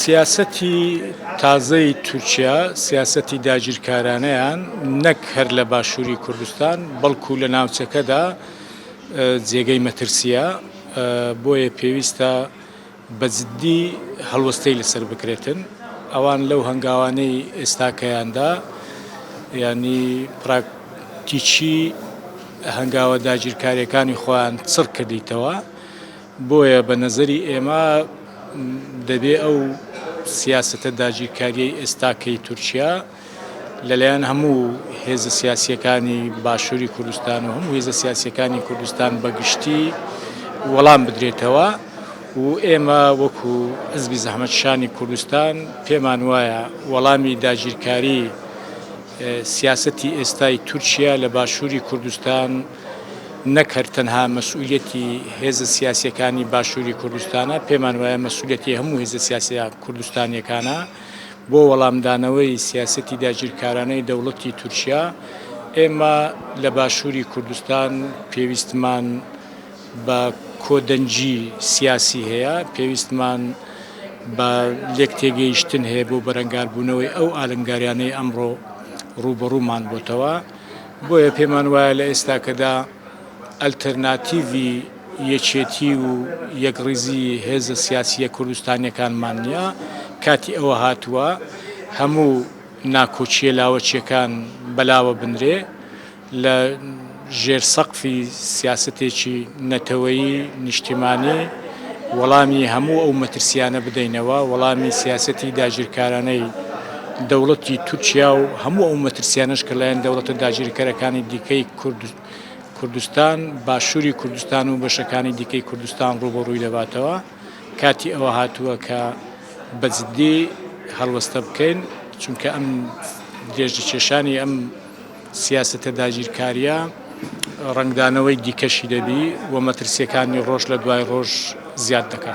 سیاسەتی تازەی تورکیا سیاسەتی داگیرکارانەیان نەک هەر لە باشووری کوردستان بەڵکو لە ناوچەکەدا جێگەی مەترسیە بۆیە پێویستە بەجددی هەڵوەستەی لەسەر بکرێتن ئەوان لەو هەنگاوانەی ئێستاکەیاندا ینی پراکتیچی هەنگاوە داگیرکاریەکانی خۆیان چڕ کردیتەوە بۆیە بە نەزەری ئێمە دەبێ ئەو سیاسەتە داگیرکاریەی ئێستاکەی تورکیا لەلایەن هەموو هێزە سیاسیەکانی باشووری کوردستان و هەموو هێزە سیاسیەکانی کوردستان بەگشتی وەڵام بدرێتەوە و ئێمە وەکو ئەزبی زەحمەتشانی کوردستان پێمان وایە وەڵامی داگیرکاری سیاسەتی ئێستای تورکیا لە باشووری کوردستان نەک هەر تەنها مەسئولیەتی هێزە سیاسیەکانی باشوری کوردستانە، پێمان وایە مەسئولیەتی هەموو هێزە سیاسە کوردستانیەکانە بۆ وەڵامدانەوەی سیاسەتی داگیرکارانەی دەوڵەتی تورکیا، ئێمە لە باشوری کوردستان پێویستمان بە کۆدەنگی سیاسی هەیە، پێویستمان بە لێکتێگەیشتن هەیە بۆ بەرەنگاربوونەوەی ئەو ئالنگاریانەی ئەمڕۆ ڕووبەڕوومان بۆتەوە. بۆیە پێمان وایە لە ئێستاکەدا ئەلتەرناتیڤی یەکێتی و یەکڕیزی هێزە سیاسییە کوردستانییەکانمان نییە، کاتی ئەوە هاتووە هەموو ناکۆکییە لاوەکییەکان بەلاوە بنرێ، لە ژێر سەقفی سیاسەتێکی نەتەوەیی نیشتیمانی، وەڵامی هەموو ئەو مەترسیانە بدەینەوە، وەڵامی سیاسەتی داگیرکارانەی دەوڵەتی تورکیا و هەموو ئەو مەترسیانەش کە لەلایەن دەوڵەتە داگیرکەرەکانی دیکەی کوردستان، باشووری کوردستان و بەشەکانی دیکەی کوردستان ڕووبەڕووی دەباتەوە. کاتی ئەوە هاتووە کە بە جددی هەڵوەستە بکەین، چونکە ئەم درێژەکێشانی ئەم. سیاسەتە داگیرکارییە ڕەنگدانەوەی دیکەشی دەبی و مەترسییەکانی ڕۆژ لە دوای ڕۆژ زیاد دەکا.